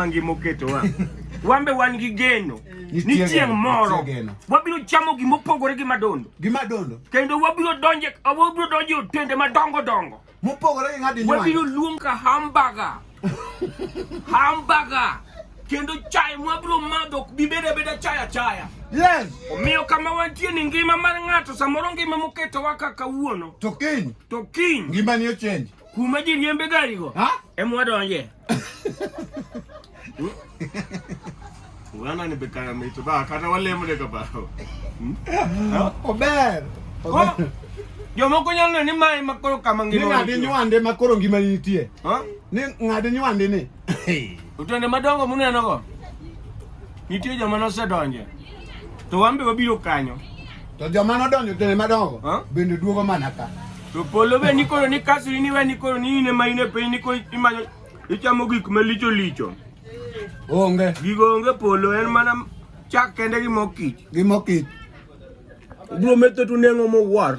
mangi moketowa wambe wan gi geno ni chieng' moro wabiro chamo gima opogore gi madondo gi madondo kendo wabiro donje wabiro donje otende madongo dongo mopogore gi ng'adi nyuwa wabiro luong ka hamburger hamburger kendo chai mwabiro madho ok bibed abeda chai achaya yes omiyo kama wantie ni ngima mar ng'ato samoro ngima moketowa kaka wuono to kiny to kiny ngima ni ochenji Kuma ji riembe gari go. Ha? Emwa donje. Wana ni bekaya mitu ba kata wale mune ka ba. Hmm? Ober. Ober. Jomoko nyalo neno ni mae makoro kama ngima. Ni ng'ade nywande makoro ngima nitie. Ha? Ni ng'ade nywande ni. Otonde madongo muneno go. Nitie joma nosedonje. To wan be wabiro kanyo. To joma nodonjo otonde madongo Huh? bende duogo mana ka. To polo be nikoro ni kaso in iwe nikoro ni in ema in e piny nikoro imanyo ichamo gik malicho licho. Onge Gigo onge polo en mana chak kende gi mor kich. gi mor kich. Ubiro metho tu nengo mowar.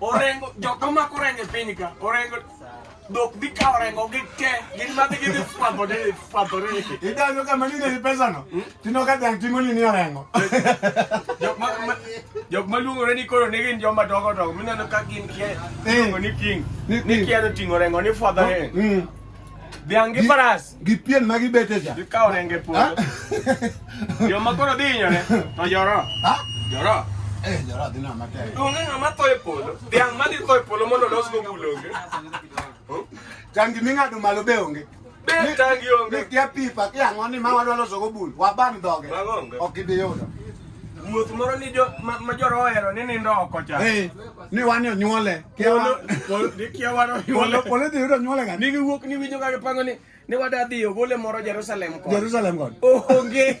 Orengo jok omako orengo e piny ka orengo dhok dhi kawo orengo gi te gin madhi gidhi fwadho ni fwadho ni Idanyo kama ni ni pesa no. Tino ka dang tingo ni ni orengo. jok ma ma- jok maluongore ni koro ni gin joma dongo dongo mineno ka gin kia Eh. iluongo ni king Ni- ni ni- kia to ting'o orengo ni fwadho ni Mm. dhiang' gi faras gi pien ma gibete cha gikawo renge puodho ah. joma koro dhi hinyore to joro ah. joro eh, joro dhi nama tek onge ng'ama tho e polo dhiang' madhi tho e polo mondo losgo bul onge tangi ming'ado malo be onge tangi onge kia pipa kia ang'o ni ma wadwa losogo bul waban dhoge ok idhi yudo wuoth moro ni ma joro ohero ni nindo oko cha eh, ni wan onyuole Polo, polo, dikia waro polo, polo dhi yudo nyuole gani? Nigi wuok ni winjo kaka pango ni, ni wada dhi ogole moro Jerusalem kod. Jerusalem kod. Onge.